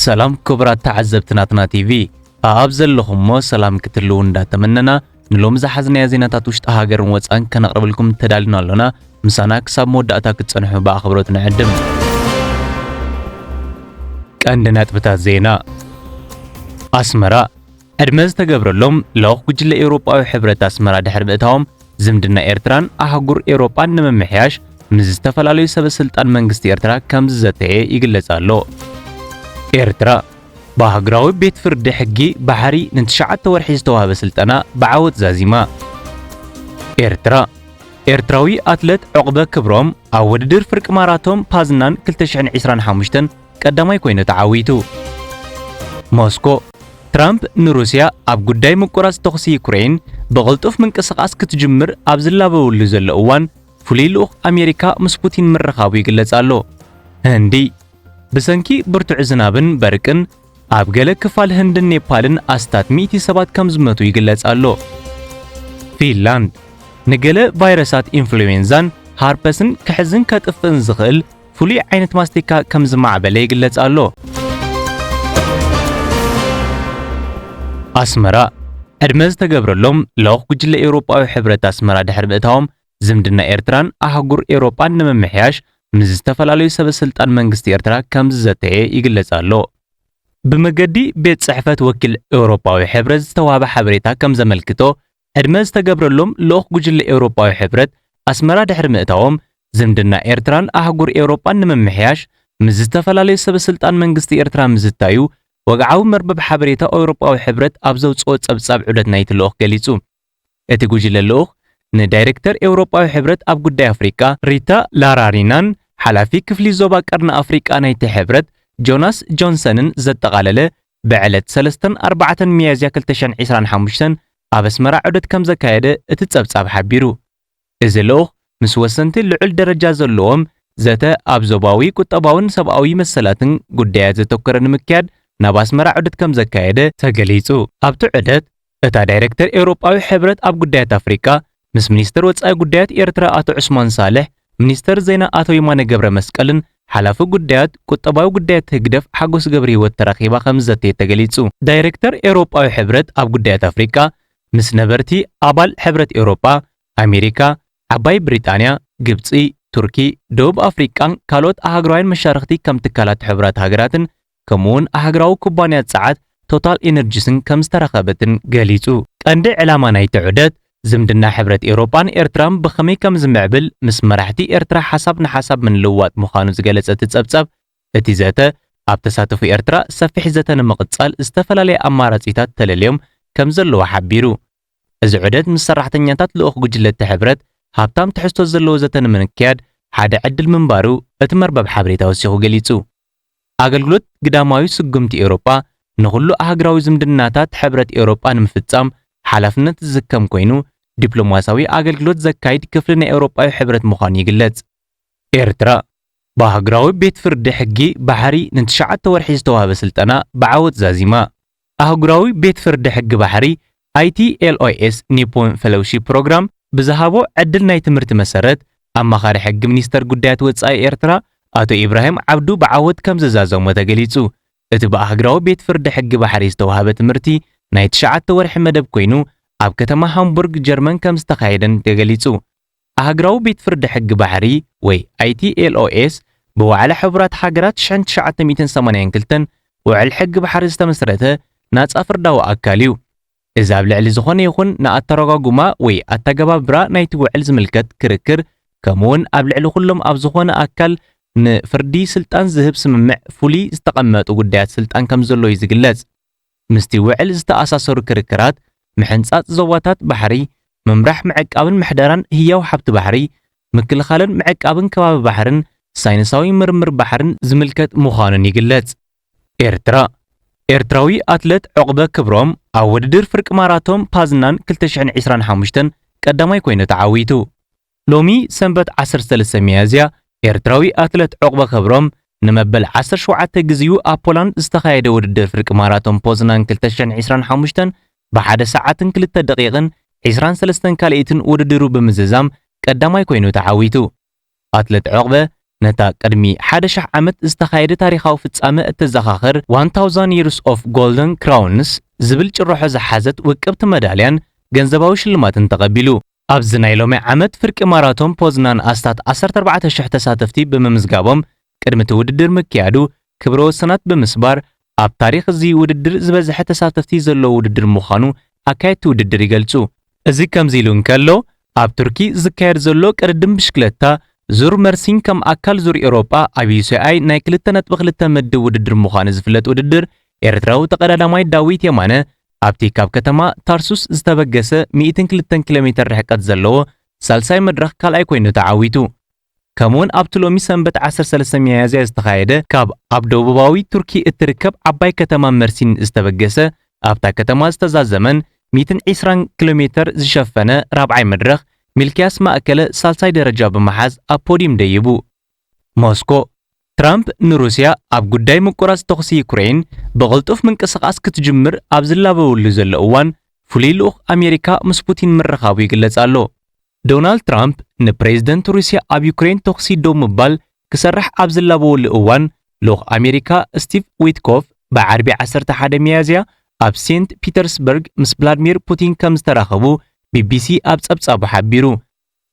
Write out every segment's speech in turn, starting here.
ሰላም ክቡራት ተዓዘብቲ ናትና ቲቪ ኣኣብ ዘለኹሞ ሰላም ክትልው እንዳተመነና ንሎሚ ዝሓዝናዮ ዜናታት ውሽጢ ሃገርን ወፃን ከነቕርብልኩም ተዳሊና ኣሎና። ምሳና ክሳብ መወዳእታ ክትጸንሑ ብኣኽብሮት ንዕድም። ቀንዲ ነጥብታት ዜና ኣስመራ ዕድመ ዝተገብረሎም ልኡኽ ጉጅለ ኤውሮጳዊ ሕብረት ኣስመራ ድሕሪ ምእታዎም፣ ዝምድና ኤርትራን ኣህጉር ኤውሮጳን ንምምሕያሽ ምስ ዝተፈላለዩ ሰበስልጣን መንግስቲ ኤርትራ ከም ዝዘተየ ይግለጽ ኣሎ። ኤርትራ ብኣህጉራዊ ቤት ፍርዲ ሕጊ ባሕሪ ንትሽዓተ ወርሒ ዝተዋህበ ስልጠና ብዓወት ዛዚማ። ኤርትራ ኤርትራዊ ኣትለት ዑቕበ ክብሮም ኣብ ውድድር ፍርቂ ማራቶን ፓዝናን 2025 ቀዳማይ ኮይኑ ተዓዊቱ። ሞስኮ፣ ትራምፕ ንሩስያ ኣብ ጉዳይ ምቁራጽ ተኹሲ ዩክረይን ብቕልጡፍ ምንቅስቓስ ክትጅምር ኣብ ዝላበወሉ ዘሎ እዋን፣ ፍሉይ ልኡኽ ኣሜሪካ ምስ ፑቲን ምርኻቡ ይግለጽ ኣሎ። ህንዲ፣ ብሰንኪ ብርቱዕ ዝናብን በርቅን ኣብ ገለ ክፋል ህንድን ኔፓልን ኣስታት ሚእቲ ሰባት ከም ዝመቱ ይግለጽ ኣሎ። ፊንላንድ፣ ንገለ ቫይረሳት ኢንፍሉዌንዛን ሃርፐስን ክሕዝን ከጥፍእን ዝኽእል ፍሉይ ዓይነት ማስቲካ ከም ዝማዕበለ ይግለጽ ኣሎ። ኣስመራ፣ ዕድመ ዝተገብረሎም ልኡኽ ጉጅለ ኤውሮጳዊ ሕብረት ኣስመራ ድሕሪ ምእታዎም፣ ዝምድና ኤርትራን ኣህጉር ኤውሮጳን ንምምሕያሽ ምስ ዝተፈላለዩ ሰበስልጣን መንግስቲ ኤርትራ ከም ዝዘተየ ይግለጽ ኣሎ። ብመገዲ ቤት ጽሕፈት ወኪል ኤውሮጳዊ ሕብረት ዝተዋህበ ሓበሬታ ከም ዘመልክቶ፣ ሕድመ ዝተገብረሎም ልኡኽ ጉጅለ ኤውሮጳዊ ሕብረት ኣስመራ ድሕሪ ምእታዎም፣ ዝምድና ኤርትራን ኣህጉር ኤውሮጳን ንምምሕያሽ ምስ ዝተፈላለዩ ሰበስልጣን መንግስቲ ኤርትራ ምዝታዩ ወግዓዊ መርበብ ሓበሬታ ኤውሮጳዊ ሕብረት ኣብ ዘውጽኦ ጸብጻብ ዑደት ናይቲ ልኡኽ ገሊጹ። እቲ ጉጅለ ልኡኽ ንዳይረክተር ኤውሮጳዊ ሕብረት ኣብ ጉዳይ ኣፍሪቃ፣ ሪታ ላራሪናን ሓላፊ ክፍሊ ዞባ ቀርኒ ኣፍሪቃ ናይቲ ሕብረት ጆናስ ጆንሰንን ዘጠቓለለ ብዕለት ሰለስተን ኣርባዕተን ሚያዝያ ክልተ ሽሕን ዒስራን ሓሙሽተን ኣብ ኣስመራ ዑደት ከም ዘካየደ እቲ ጸብጻብ ሓቢሩ። እዚ ልኡኽ ምስ ወሰንቲ ልዑል ደረጃ ዘለዎም ዘተ ኣብ ዞባዊ ቁጠባውን ሰብኣዊ መሰላትን ጉዳያት ዘተኮረ ንምክያድ ናብ ኣስመራ ዑደት ከም ዘካየደ ተገሊጹ። ኣብቲ ዑደት እታ ዳይረክተር ኤውሮጳዊ ሕብረት ኣብ ጉዳያት ኣፍሪቃ ምስ ሚኒስተር ወጻኢ ጉዳያት ኤርትራ ኣቶ ዑስማን ሳልሕ፣ ሚኒስተር ዜና ኣቶ የማነ ገብረመስቀልን ሓላፊ ጉዳያት ቁጠባዊ ጉዳያት ህግደፍ ሓጎስ ገብርሂወት ተራኺባ ከምዝዘተየት ተገሊጹ። ዳይረክተር ኤውሮጳዊ ሕብረት ኣብ ጉዳያት ኣፍሪቃ ምስ ነበርቲ ኣባል ሕብረት ኤውሮጳ፣ ኣሜሪካ፣ ዓባይ ብሪጣንያ፣ ግብጺ፣ ቱርኪ፣ ደቡብ ኣፍሪቃን ካልኦት ኣህጉራውያን መሻርኽቲ ከም ትካላት ሕቡራት ሃገራትን ከምኡ'ውን ኣህግራዊ ኩባንያ ጸዓት ቶታል ኢነርጂስን ከም ዝተረኸበትን ገሊጹ። ቀንዲ ዕላማ ናይቲ ዑደት፣ ዝምድና ሕብረት ኤውሮጳን ኤርትራን ብኸመይ ከም ዝምዕብል ምስ መራሕቲ ኤርትራ ሓሳብ ንሓሳብ ምልውዋጥ ምዃኑ ዝገለጸ እቲ ጸብጻብ፣ እቲ ዘተ፣ ኣብ ተሳተፎ ኤርትራ ሰፊሕ ዘተ ንምቕጻል ዝተፈላለየ ኣማራጺታት ተለልዮም ከም ዘለዉ ሓቢሩ። እዚ ዑደት ምስ ሰራሕተኛታት ልኡኽ ጉጅለ'ቲ ሕብረት ሃብታም ትሕዝቶ ዘለዎ ዘተ ንምንክያድ ሓደ ዕድል ምንባሩ እቲ መርበብ ሓበሬታ ወሲኹ ገሊጹ። ኣገልግሎት ግዳማዊ ስጉምቲ ኤውሮጳ ንኹሉ ኣህግራዊ ዝምድናታት ሕብረት ኤውሮጳ ንምፍጻም ሓላፍነት ዝስከም ኮይኑ፣ ዲፕሎማስያዊ ኣገልግሎት ዘካይድ ክፍሊ ናይ ኤውሮጳዊ ሕብረት ምዃኑ ይግለጽ። ኤርትራ፣ ብኣህግራዊ ቤት ፍርዲ ሕጊ ባሕሪ ንትሽዓተ ወርሒ ዝተዋህበ ስልጠና ብዓወት ዛዚማ። ኣህጉራዊ ቤት ፍርዲ ሕጊ ባሕሪ፣ ITLOS Nippon Fellowship Program፣ ብዝሃቦ ዕድል ናይ ትምህርቲ መሰረት፣ ኣማኻሪ ሕጊ ሚኒስተር ጉዳያት ወጻኢ ኤርትራ ኣቶ ኢብራሂም ዓብዱ ብዓወት ከም ዘዛዘሞ ተገሊጹ። እቲ ብኣህግራዊ ቤት ፍርዲ ሕጊ ባሕሪ ዝተዋህበ ትምህርቲ ናይ ትሽዓተ ወርሒ መደብ ኮይኑ፣ ኣብ ከተማ ሃምቡርግ ጀርመን ከም ዝተኻየደን ተገሊጹ። ኣህግራዊ ቤት ፍርዲ ሕጊ ባሕሪ ወይ ITLOS ብዋዕላ ሕቡራት ሃገራት ሽሕን ትሽዓተ ሚእትን ሰማንያን ክልተን ውዕል ሕጊ ባሕሪ ዝተመስረተ ናጻ ፍርዳዊ ኣካል እዩ። እዚ ኣብ ልዕሊ ዝኾነ ይኹን ንኣተረጓጉማ ወይ ኣተገባብራ ናይቲ ውዕል ዝምልከት ክርክር ከምኡውን ኣብ ልዕሊ ኩሎም ኣብ ዝኾነ ኣካል ንፍርዲ ስልጣን ዝህብ ስምምዕ ፍሉይ ዝተቐመጡ ጉዳያት ስልጣን ከምዘሎ እዩ ዝግለጽ። ምስቲ ውዕል ዝተኣሳሰሩ ክርክራት፣ ምሕንጻጽ ዞባታት ባሕሪ፣ ምምራሕ ምዕቃብን ምሕደራን ህያው ሓብቲ ባሕሪ፣ ምክልኻልን ምዕቃብን ከባቢ ባሕርን ሳይንሳዊ ምርምር ባሕርን ዝምልከት ምዃኑን ይግለጽ። ኤርትራ፣ ኤርትራዊ ኣትለት ዑቕበ ክብሮም ኣብ ውድድር ፍርቂ ማራቶን ፓዝናን ክልተ ሽሕን ዒስራን ሓሙሽተን ቀዳማይ ኮይኑ ተዓዊቱ። ሎሚ ሰንበት ዓሰርተ ሰለስተ ሚያዝያ ኤርትራዊ ኣትለት ዑቕበ ክብሮም ንመበል ዓሰርተ ሸውዓተ ግዜኡ ኣብ ፖላንድ ዝተኻየደ ውድድር ፍርቂ ማራቶን ፖዝናን ክልተ ሽሕን ዕስራን ሓሙሽተን ብሓደ ሰዓትን ክልተ ደቒቕን ዕስራን ሰለስተን ካልኢትን ውድድሩ ብምዝዛም ቀዳማይ ኮይኑ ተዓዊቱ። ኣትለት ዑቕበ ነታ ቅድሚ ሓደ ሽሕ ዓመት ዝተኻየደ ታሪኻዊ ፍጻመ እተዘኻኽር ዋን ታውዛን ይርስ ኦፍ ጎልደን ክራውንስ ዝብል ጭርሖ ዝሓዘት ውቅብቲ መዳልያን ገንዘባዊ ሽልማትን ተቐቢሉ። ኣብዚ ናይ ሎሚ ዓመት ፍርቂ ማራቶን ፖዝናን ኣስታት ዓሰርተ ኣርባዕተ ሽሕ ተሳተፍቲ ብምምዝጋቦም ቅድሚ እቲ ውድድር ምክያዱ ክብረ ወሰናት ብምስባር ኣብ ታሪኽ እዚ ውድድር ዝበዝሐ ተሳተፍቲ ዘለዎ ውድድር ምዃኑ ኣካየድቲ ውድድር ይገልጹ። እዚ ከምዚ ኢሉ እንከሎ፣ ኣብ ቱርኪ ዝካየድ ዘሎ ቅድድም ብሽክለታ ዙር መርሲን ከም ኣካል ዙር ኤውሮጳ ኣብ ዩሲኣይ ናይ ክልተ ነጥቢ ክልተ ምድብ ውድድር ምዃኑ ዝፍለጥ ውድድር ኤርትራዊ ተቐዳዳማይ ዳዊት የማነ ኣብቲ ካብ ከተማ ታርሱስ ዝተበገሰ ሚእትን ክልተን ኪሎ ሜተር ርሕቀት ዘለዎ ሳልሳይ መድረኽ ካልኣይ ኮይኑ ተዓዊቱ። ከምኡ'ውን ኣብቲ ሎሚ ሰንበት ዓሰርተ ሰለስተ ሚያዝያ ዝተኻየደ ካብ ኣብ ደቡባዊ ቱርኪ እትርከብ ዓባይ ከተማ መርሲን ዝተበገሰ ኣብታ ከተማ ዝተዛዘመን ሚእትን ዒስራን ኪሎ ሜተር ዝሸፈነ ራብዓይ መድረኽ፣ ሚልክያስ ማእከለ ሳልሳይ ደረጃ ብምሓዝ ኣብ ፖድዩም ደይቡ። ሞስኮ፣ ትራምፕ ንሩስያ ኣብ ጉዳይ ምቁራጽ ተኹሲ ዩክረይን ብቕልጡፍ ምንቅስቓስ ክትጅምር ኣብ ዝላበወሉ ዘሎ እዋን፣ ፍሉይ ልኡኽ ኣሜሪካ ምስ ፑቲን ምርኻቡ ይግለጽ ኣሎ። ዶናልድ ትራምፕ ንፕሬዝደንት ሩስያ ኣብ ዩክረይን ተኹሲ ደው ምባል ክሰርሕ ኣብ ዝላበወሉ እዋን፣ ልኡኽ ኣሜሪካ ስቲቭ ዊትኮፍ ብዓርቢ ዓሰርተ ሓደ ሚያዝያ ኣብ ሴንት ፒተርስበርግ ምስ ቭላድሚር ፑቲን ከምዝተራኸቡ ቢቢሲ ኣብ ጸብጻቡ ሓቢሩ።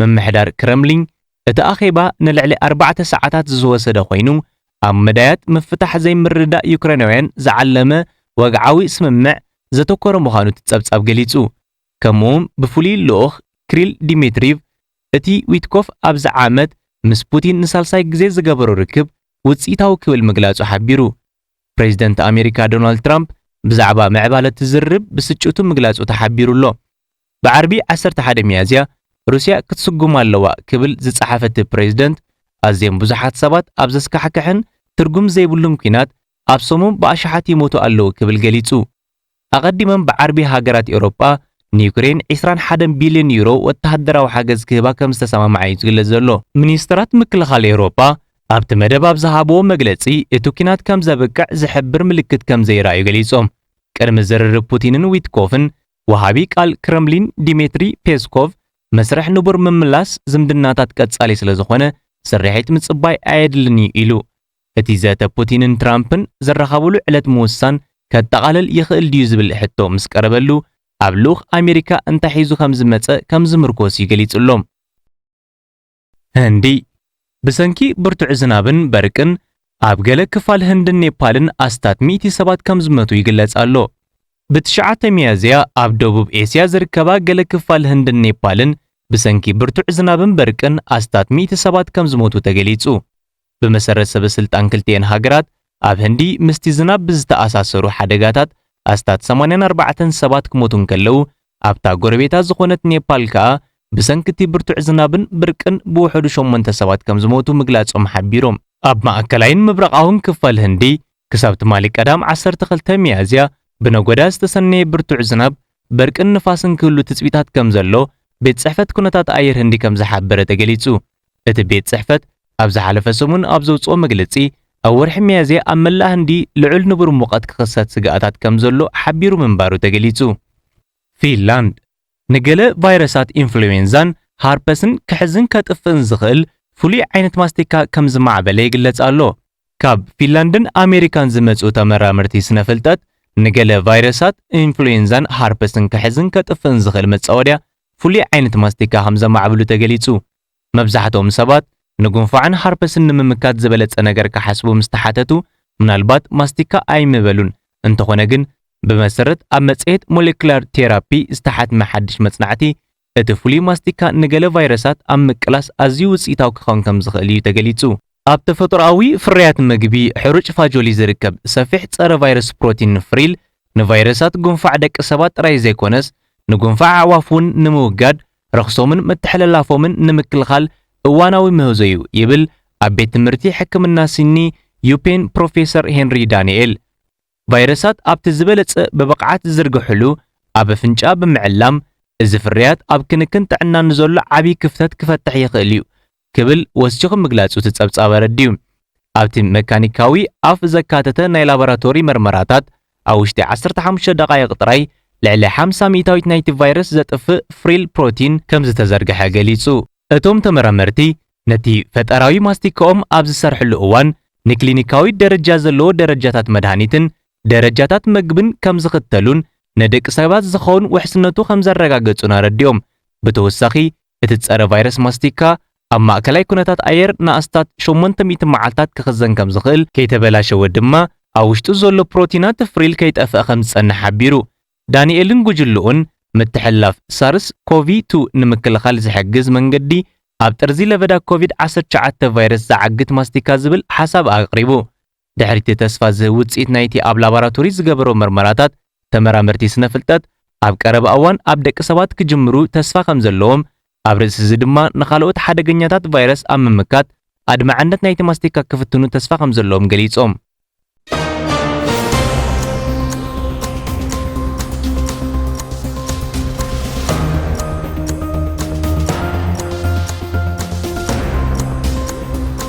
ምምሕዳር ክረምሊን፣ እቲ ኣኼባ ንልዕሊ ኣርባዕተ ሰዓታት ዝዝወሰደ ኮይኑ፣ ኣብ መዳያት ምፍታሕ ዘይምርድዳእ ዩክሬናውያን ዝዓለመ ወግዓዊ ስምምዕ ዘተኮረ ምዃኑ እቲ ጸብጻብ ገሊጹ። ከምኡ'ውን ብፍሉይ ልኡኽ ክሪል ዲሚትሪቭ፣ እቲ ዊትኮፍ ኣብዚ ዓመት ምስ ፑቲን ንሳልሳይ ግዜ ዝገበሮ ርክብ ውጽኢታዊ ክብል ምግላጹ ሓቢሩ። ፕሬዚደንት ኣሜሪካ ዶናልድ ትራምፕ ብዛዕባ ምዕባለ'ቲ ዝርርብ ብስጭቱ ምግላጹ ተሓቢሩ'ሎ። ብዓርቢ ዓሰርተ ሓደ ሚያዝያ ሩስያ ክትስጉም ኣለዋ ክብል ዝጸሓፈ'ቲ ፕሬዝደንት፣ ኣዝዮም ብዙሓት ሰባት ኣብ ዘስካሕክሕን ትርጉም ዘይብሉን ኲናት ኣብ ሰሙም ብኣሽሓት ይሞቱ ኣለዉ ክብል ገሊጹ። ኣቐዲመን ብዓርቢ ሃገራት ኤውሮጳ ንዩክሬን ዕስራን ሓደን ቢልዮን ዩሮ ወተሃደራዊ ሓገዝ ክህባ ከም ዝተሰማምዓ'ዩ ዝግለጽ ዘሎ። ሚኒስተራት ምክልኻል ኤውሮጳ ኣብቲ መደብ ኣብ ዝሃብዎ መግለጺ እቲ ኲናት ከም ዘብቅዕ ዝሕብር ምልክት ከም ዘይረኣዩ ገሊጾም። ቅድሚ ዝርርብ ፑቲንን ዊትኮፍን ወሃቢ ቃል ክረምሊን ዲሜትሪ ፔስኮቭ፣ መስርሕ ንቡር ምምላስ ዝምድናታት ቀጻሊ ስለዝኾነ ስርሒት ምጽባይ ኣየድልን'ዩ ኢሉ። እቲ ዘተ ፑቲንን ትራምፕን ዝራኸብሉ ዕለት ምውሳን ከጠቓልል ይኽእል ድዩ ዝብል ሕቶ ምስ ቀረበሉ፣ ኣብ ልኡኽ ኣሜሪካ እንታይ ሒዙ ከምዝመጸ ከምዝምርኮስ'ዩ ገሊጹሎም። ህንዲ፣ ብሰንኪ ብርቱዕ ዝናብን በርቅን ኣብ ገለ ክፋል ህንድን ኔፓልን ኣስታት ሚእቲ ሰባት ከም ዝሞቱ ይግለጽ ኣሎ። ብትሽዓተ ሚያዝያ ኣብ ደቡብ ኤስያ ዝርከባ ገለ ክፋል ህንድን ኔፓልን ብሰንኪ ብርቱዕ ዝናብን በርቅን ኣስታት ሚእቲ ሰባት ከም ዝሞቱ ተገሊጹ። ብመሰረት ሰበስልጣን ክልቲኤን ሃገራት፣ ኣብ ህንዲ ምስቲ ዝናብ ብዝተኣሳሰሩ ሓደጋታት ኣስታት ሰማንያን ኣርባዕተን ሰባት ክሞቱ እንከለዉ፣ ኣብታ ጎረቤታ ዝኾነት ኔፓል ከኣ ብሰንኪ'ቲ ብርቱዕ ዝናብን ብርቅን ብውሑዱ ሸሞንተ ሰባት ከምዝሞቱ ምግላጾም ሓቢሮም። ኣብ ማእከላይን ምብራቓውን ክፋል ህንዲ፣ ክሳብ ትማሊ ቀዳም ዓሰርተ ክልተ ሚያዝያ ብነጎዳ ዝተሰነየ ብርቱዕ ዝናብ፣ በርቅን ንፋስን ክህሉ ትጽቢታት ከምዘሎ ቤት ጽሕፈት ኩነታት ኣየር ህንዲ ከምዝሓበረ ተገሊጹ። እቲ ቤት ጽሕፈት ኣብ ዝሓለፈ ሰሙን ኣብ ዘውጽኦ መግለጺ፣ ኣብ ወርሒ ሚያዝያ ኣብ መላእ ህንዲ ልዑል ንቡር ሙቐት ክኽሰት ስግኣታት ከም ዘሎ ሓቢሩ ምንባሩ ተገሊጹ። ፊንላንድ፣ ንገለ ቫይረሳት ኢንፍሉዌንዛን ሀርፐስን ክሕዝን ከጥፍእን ዝኽእል ፍሉይ ዓይነት ማስቲካ ከም ዝማዕበለ ይግለጽ ኣሎ። ካብ ፊንላንድን ኣሜሪካን ዝመጽኡ ተመራመርቲ ስነ-ፍልጠት፣ ንገለ ቫይረሳት ኢንፍሉዌንዛን ሀርፐስን ክሕዝን ከጥፍእን ዝኽእል መጻወድያ ፍሉይ ዓይነት ማስቲካ ከም ዘማዕብሉ ተገሊጹ። መብዛሕትኦም ሰባት ንጉንፋዕን ሃርፐስን ንምምካት ዝበለጸ ነገር ክሓስቡ ምስ ተሓተቱ ምናልባት ማስቲካ ኣይምበሉን፣ እንተዀነ ግን ብመሰረት ኣብ መጽሔት ሞለኪላር ቴራፒ ዝተሓትመ ሓድሽ መጽናዕቲ፣ እቲ ፍሉይ ማስቲካ ንገለ ቫይረሳት ኣብ ምቅላስ ኣዝዩ ውጽኢታዊ ክኸውን ከም ዝኽእል እዩ ተገሊጹ። ኣብ ተፈጥሮኣዊ ፍርያት መግቢ ሕሩጭ ፋጆሊ ዝርከብ ሰፊሕ ጸረ-ቫይረስ ፕሮቲን ንፍሪል፣ ንቫይረሳት ጉንፋዕ ደቂ ሰባት ጥራይ ዘይኮነስ ንጉንፋዕ ኣዕዋፍ እውን ንምውጋድ ረኽሶምን ምትሕልላፎምን ንምክልኻል እዋናዊ ምህዞ'ዩ ይብል ኣብ ቤት ትምህርቲ ሕክምና ሲኒ ዩፔን ፕሮፌሰር ሄንሪ ዳንኤል። ቫይረሳት ኣብቲ ዝበለጸ ብብቕዓት ዝዝርግሕሉ ኣብ ኣፍንጫ ብምዕላም፣ እዚ ፍርያት ኣብ ክንክን ጥዕና ንዘሎ ዓቢ ክፍተት ክፈትሕ ይኽእል'ዩ ክብል ወሲኹ ምግላጹ እቲ ጸብጻብ ኣረዲኡ። ኣብቲ መካኒካዊ ኣፍ ዘካተተ ናይ ላቦራቶሪ መርመራታት፣ ኣብ ውሽጢ ዓሰርተ ሓሙሽተ ደቓይቕ ጥራይ ልዕሊ ሓምሳ ሚእታዊት ናይቲ ቫይረስ ዘጥፍእ ፍሪል ፕሮቲን ከምዝተዘርግሐ ገሊጹ። እቶም ተመራመርቲ፣ ነቲ ፈጠራዊ ማስቲካኦም ኣብ ዝሰርሕሉ እዋን፣ ንክሊኒካዊ ደረጃ ዘለዎ ደረጃታት መድሃኒትን ደረጃታት መግብን ከምዝኽተሉን ንደቂ ሰባት ዝኸውን ውሕስነቱ ከምዘረጋገጹን ኣረዲኦም። ብተወሳኺ እቲ ጸረ-ቫይረስ ማስቲካ ኣብ ማእከላይ ኩነታት ኣየር ንኣስታት ሸሞንተ ሚእቲ መዓልታት ክኽዘን ከም ዝኽእል፣ ከይተበላሸወ ድማ ኣብ ውሽጡ ዘሎ ፕሮቲናት ፍሪል ከይጠፍኣ ከም ዝጸንሕ ሓቢሩ። ዳኒኤልን ጉጅልኡን፣ ምትሕልላፍ ሳርስ ኮቪ ቱ ንምክልኻል ዝሕግዝ መንገዲ ኣብ ጥርዚ ለበዳ ኮቪድ ዓሰርተ ትሽዓተ ቫይረስ ዝዓግት ማስቲካ ዝብል ሓሳብ ኣቕሪቡ። ድሕሪ'ቲ ተስፋ ዝህብ ውጽኢት ናይቲ ኣብ ላባራቶሪ ዝገበሮ መርመራታት፣ ተመራመርቲ ስነ-ፍልጠት፣ ኣብ ቀረባ እዋን ኣብ ደቂ ሰባት ክጅምሩ ተስፋ ከም ዘለዎም፣ ኣብ ርእሲ'ዚ ድማ ንኻልኦት ሓደገኛታት ቫይረስ ኣብ ምምካት ኣድማዕነት ናይቲ ማስቲካ ክፍትኑ ተስፋ ከም ዘለዎም ገሊጾም።